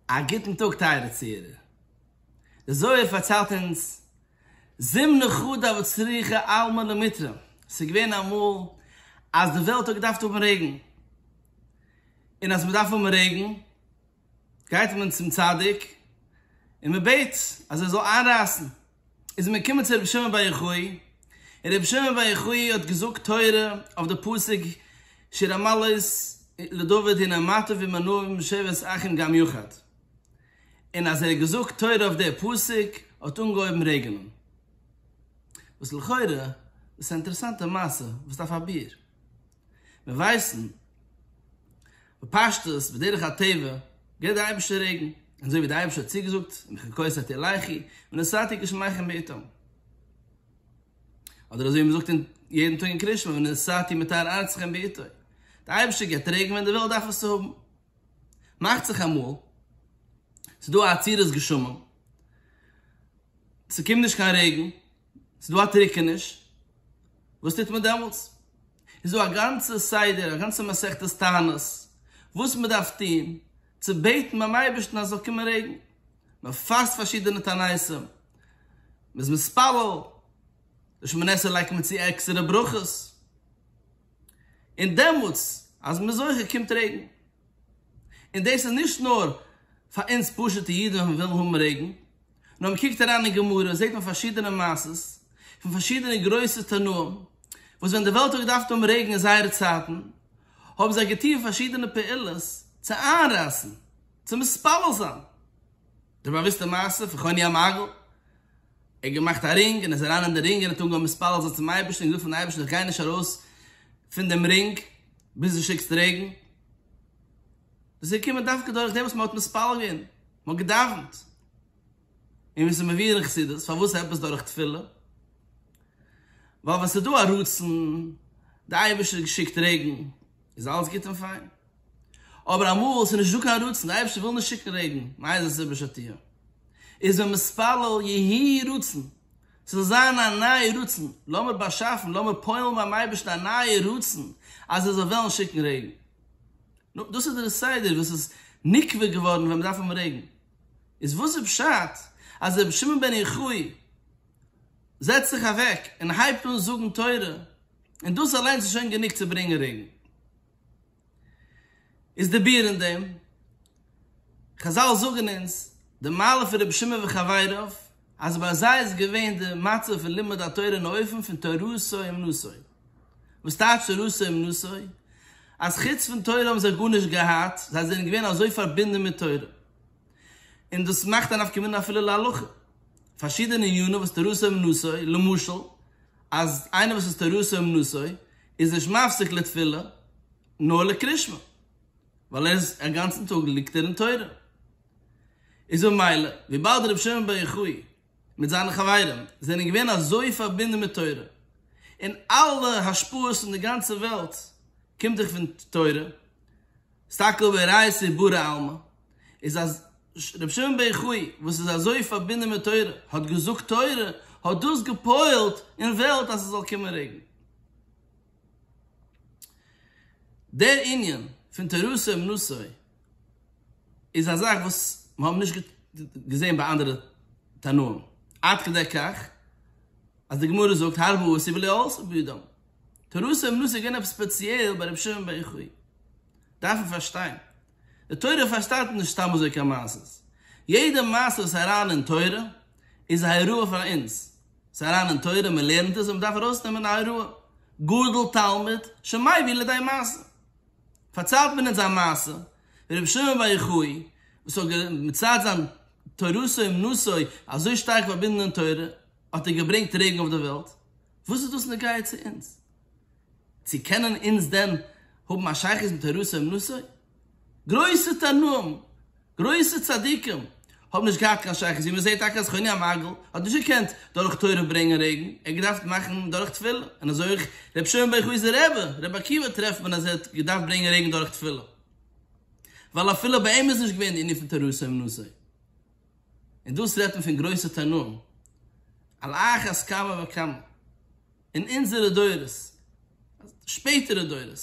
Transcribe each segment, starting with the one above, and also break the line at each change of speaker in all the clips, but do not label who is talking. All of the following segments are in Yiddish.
א גוטן טאג טייערע צוהערער. די זוהר פארציילט אונז, זימ נכא דאבד צריכה עלמא למטרא, ס'איז געווען אמאל אז די וועלט האט געדארפט האבן רעגן, און אז מ'דארף האבן רעגן גייט מען צום צדיק און מ'בעט אז ער זאל איינרייסן. איז מען געקומען צו רבי שמעון בר יוחאי, און רבי שמעון בר יוחאי האט געזאגט תורה אויף די פסוק שיר המעלות לדוד הנה אמתיו ומנעיו משבעת אחים גם יחד, און אז ער האט געזאגט תורה אויף די פסוק האט אנגעהויבן רעגענען. וואס לכאורה איז א אינטערעסאנטע מעשה וואס דארף א ביאור. מיר ווייסן בפשטות בדרך הטבע גיט דער אייבערשטער רעגן, און אזוי ווי דער אייבערשטער האט צוגעזאגט ומכין כוס אתי לחי ונשאתי גשמיכם בעתם, אדער אזוי ווי מען זאגט יעדן טאג אין קריאת שמע ונשאתי מטר ארצכם בעתו, דער אייבערשטער גיט רעגן ווען די וועלט דארף עס צו האבן. מאכט זיך אמאל ס'איז דא א עצירת גשמים, ס'קומט נישט קיין רעגן, ס'איז דא א טריקעניש, וואס טוט מען דעמאלטס? איז דא א גאנצע סדר, א גאנצע מסכת תענית, וואס מען דארף טון צו בעטן ביים אייבערשטן אז ס'זאל קומען רעגן, מען פאסט פארשידענע תעניתים, מען איז מתפלל, לשמונה עשר לייגט מען צו עקסטערע ברכות. און דעמאלטס אז מ'איז זוכה קומט רעגן. און דאס איז נישט נאר פאר אונז פשוט'ע אידן ווען מ'וויל האבן רעגן, נאר מ'קוקט אריין אין גמרא זעט מען פארשידענע מעשות פון פארשידענע גרויסע תנאים וואס ווען די וועלט האט געדארפט האבן רעגן אין זייערע צייטן האבן זיי געטון פארשידענע פעולות צו איינרייסן, צו מתפלל זיין. די באוויסטע מעשה פון חוני המעגל ער האט געמאכט א רינג און איז אריין אין די רינג און האט אנגעהויבן מתפלל זיין צום אייבערשטן און געזאגט פארן אייבערשטן איך גיי נישט ארויס פון דעם רינג ביז דו שיקסט רעגן, דאס איז געקומען דווקא דורך דעם וואס מען האט מתפלל געווען, מען האט געדאווענט, און ווי עס איז מבואר אין חסידות פארוואס עפעס דורך תפילה, ווייל ווען עס איז דא א רצון, דער אייבערשטער האט געשיקט רעגן. איז אלעס גוט און פיין. אבער אמאל ס'איז נישט דא קיין רצון, די אייבערשטער וויל נישט שיקן רעגן, מאיזה סיבה שתהיה, איז מען מתפלל יהי רצון ס'זאל זיין א נייע רצון, לאמיר באשאפן, לאמיר פועל'ן ביים אייבערשטן א נייע רצון אז ער זאל וועלן שיקן רעגן. נו, דאס איז דער סדר וואס איז נקבע געווארן ווען מ'דארף האבן רעגן. איז וואס איז פשט אז רבי שמעון בן יוחאי, זעצט זיך אוועק און הייבט אן זאגן תורה, און דאס אליינס איז שוין גענוג צו ברענגען רעגן. איז די ביאור אין דעם, חזל זאגן אונז די מעלה פון רבי שמעון וחבריו, אז ביי זיי איז געווען די מצב פון לימוד התורה אין אופן פון תורתו אומנותו. וואס טייטש תורתו אומנותו? אז חוץ פון תורה האבן זיי גארנישט געהאט, זיי זענען געווען אזוי פארבינדן מיט תורה. און דאס מאכט א נפקא מינה אפילו להלכה. פארשידענע ענינים וואס תורתו אומנותו, למשל אז איינער וואס איז תורתו אומנותו איז נישט מפסיק לתפילה נאר לקרישמע, ווייל ער איז א גאנצן טאג ליגט ער אין תורה, איז ממילא וויבאלד רבי שמעון בר יוחאי מיט זיינע חברים זענען געווען אזוי פארבינדן מיט תורה, און אלע השפעות פון די גאנצע וועלט קומט דאך פון תורה, סטאקא ווי ראיות איז ברא עלמא איז אז רבי שמעון בר יוחאי וואס איז אזוי פארבינדען מיט תורה האט געזאגט תורה האט דאס געפועלט אין וועלט אז ס'זאל קומען רעגן. דער ענין פון תורתו אומנותו איז א זאך וואס מ'האב נישט געזען ביי אנדערע תנאים עד כדי כך אז די גמרא זאגט הרבו עשו ולא עשו בידם. תורתו אומנותו איז געווען עפעס ספעציעל ביי רבי שמעון בן יוחאי. דארף מען פארשטיין. די תורה פארשטייט נישט סתם אזוי קיין מעשות. יעדע מעשה וואס איז אריין אין תורה, איז א הוראה פאר אונז. ס'איז אריין אין תורה, מ'לערנט עס און מ'דארף ארויסנעמען א הוראה. גדל תלמיד שמעי ווי לידי מעשה. פארציילט מען אונז א מעשה, ווי רבי שמעון בן יוחאי, וואס האט מצד זיין תורתו אומנותו אזוי שטארק פארבינדן אין תורה, האט ער געברענגט רעגן אויף די וועלט. וואס איז דאס נוגע צו אונז? צו קענען אונז דען האבן א שייכות מיט הרהצ אויב נשא? גרויסע תנאים, גרויסע צדיקים, האבן נישט געהאט קיין שייכות, ווי מען זעט טאקע אז חוני המעגל האט נישט געקענט דורך תורה ברענגען רעגן, ער האט געדארפט מאכן דורך תפילה, און אזוי אויך רבי שמעון בר יוחאי'ס רבי, רבי עקיבא טרעפט מען אז ער האט געדארפט ברענגען רעגן דורך תפילה, ווייל אפילו ביי אים איז נישט געווען די ענין פון תורה אויב נשא. און דאס רעדט מען פון גרויסע תנאים, על אחת כמה וכמה אין אונזערע דורות, שפעטערע דורות,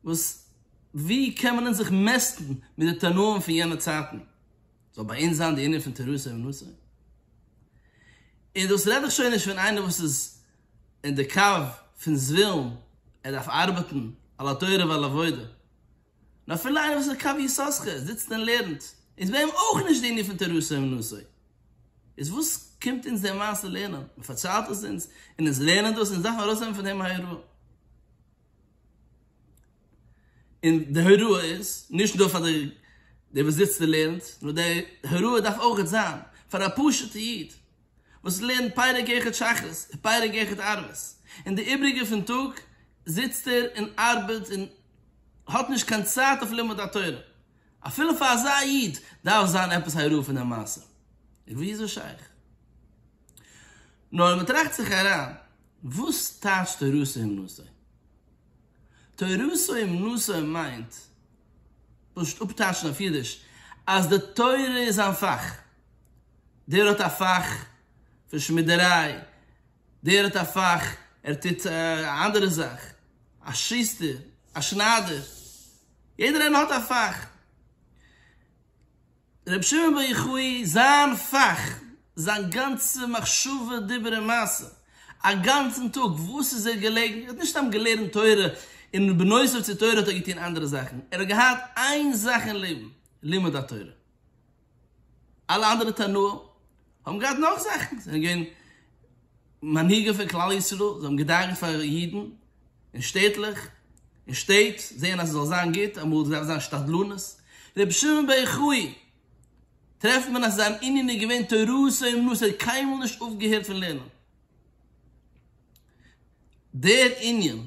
וואס ווי קען מען אונז זיך מעסטן מיט די תנאים פון יענע צייטן, זאל ביי אונז זיין די ענין פון תרסה ונשא, און דאס רעד איך שוין נישט פון איינער וואס איז אין די קו פון זווילן, ער דארף ארבעטן על התורה ועל העבודה. און אפילו איינער וואס איז קו יששכר זיצט און לערנט איז ביי אים אויך נישט די ענין פון תורתו אומנותו, איז וואס קומט אונז די מעשה לערנען, מען פארציילט עס אונז און אונז לערנען דאס, אונז דארפן ארויסהאבן פון דעם הוראה, און די הוראה איז נישט נאר פאר דער וואס זיצט און לערנט, נאר די הוראה דארף אויך זיין פאר א פשוט'ע איד. וואס לערנט פרק אחד שחרית און פרק אחד ערבית, און די איבריגע פון טאג זיצט ער און ארבעט און האט נישט קיין צייט אויף לימוד התורה, אפילו פאר אזא איד דארף זיין עפעס הוראה פון דעם מעשה, ווי איז עס שייך? נאר מען טראכט זיך אריין, וואס טייטשט תורתו אומנותו? תורתו אומנותו מיינט, פשוט אפטייטשן אויף אידיש, אז די תורה איז זיין פאך. דער האט א פאך פון שמידעריי, דער האט א פאך ער טוט א אנדערע זאך, א שוסטער, א שניידער, יעדער איינער האט א פאך. ר' שמעון בר יוחאי זיין פאך, זיין גאנצע מחשבה דיבור און מעשה, א גאנצן טאג וואס איז ער געלעגן, ער האט נישט סתם געלערנט תורה און בנוסף צו תורה האט ער געטון אנדערע זאכן, ער האט געהאט איין זאך אין לעבן, לימוד התורה. אלע אנדערע תנאים האבן געהאט נאך זאכן, זיי זענען געווען מנהיגים פון כלל ישראל, זיי האבן געדאגה'ט פאר אידן און שטעטלעך, און שטעט, זעהן אז עס זאל זיין גוט, אמאל דארף זיין שתדלנות, רבי שמעון בר יוחאי טרעפט מען אז זיין ענין איז געווען תורת אמונות, ער האט קיינמאל נישט אויפגעהערט פון לערנען דער ענין.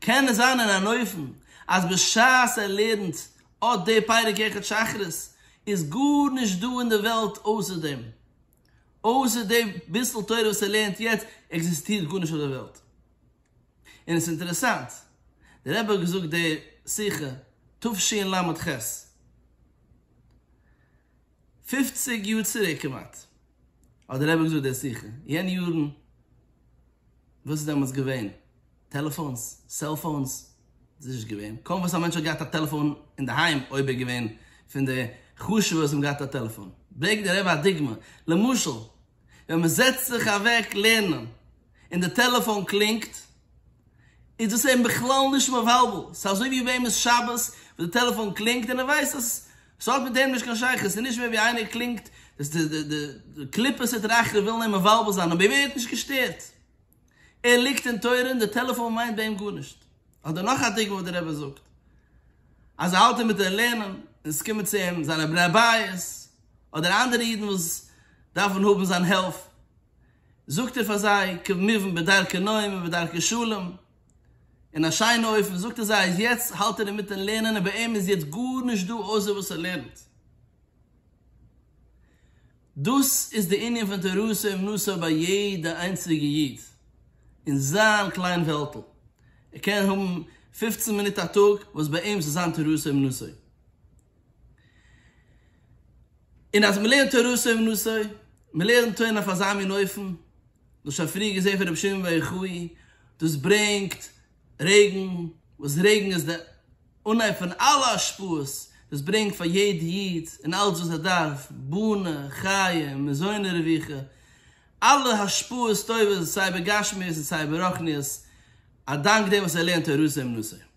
קען עס זיין אין אן אופן אז בשעת ער לערנט אט די פרק יחד שחרית איז גארנישט דא אין די וועלט אויסער דעם, אויסער די ביסל תורה וואס ער לערנט יעצט עקזיסטירט גארנישט אויף די וועלט. און עס איז אינטערעסאנט, דער רבי האט געזאגט די שיחה תשל ח, פֿופֿציק יאר צוריק כמעט, האט דער רבי געזאגט דער שיחה, יענע יארן, וואס איז דעמאלטס געווען? טעלעפאונס, סעלפאונס, איז נישט געווען, קוים וואס א מענטש האט געהאט א טעלעפאון אינדערהיים, אויב ער איז געווען פון די חשוב'ע וואס האבן געהאט א טעלעפאון. ברענגט דער רבי א דוגמא, למשל, ווען מען זעצט זיך אוועק לערנען און די טעלעפאון קלינגט איז דאס אים בכלל נישט מבלבל, ס'איז אזוי ווי וועם איז שבת וואס די טעלעפאון קלינגט און ער ווייסט אז ס'האט מיט אים נישט קיין שייכות, ס'איז נישט מער ווי איינער קלינגט די קליפות התרחב ווילן אים מבלבל זיין אבער ער ווערט נישט געשטערט, ער ליגט אין תורה און די טעלעפאון מיינט ביי אים גארנישט. אדער נאך א דוגמא וואס דער רבי זאגט אז ער האלט אינמיטן לערנען און עס קומען צו אים זיינע בני בית, אדער אנדערע אידן וואס דארפן האבן זיין הילף, זאגט ער פאר זיי כמובן בדרכי נועם ובדרכי שלום, אין א שיינע אופן זאגט ער זיי אז יעצט האלט ער אינמיטן לערנען און ביי אים איז יעצט גארנישט דא אויסער וואס ער לערנט. דאס איז די ענין פון תורתו אומנותו ביי יעדע איינציגע איד אין זיין קליין וועלטל, ער קען האבן פופצן מינוט א טאג וואס ביי אים זאל זיין תורתו אומנותו, און אז מען לערנט תורה סוף נושא, מען לערנט תורה אויף אזא מין אופן, דאס שוין פריער געזען פון רבי שמעון בר יוחאי, דאס ברענגט רעגן, וואס רעגן איז די אנהייב פון אלע השפעות, דאס ברענגט פאר יעדע איד און אלץ וואס ער דארף, בונה, חיי, מזוני רווחה, אלע השפעות טובות סיי בגשמיות און סיי ברוחניות, א דאנק דעם וואס ער לערנט תורה סוף נושא.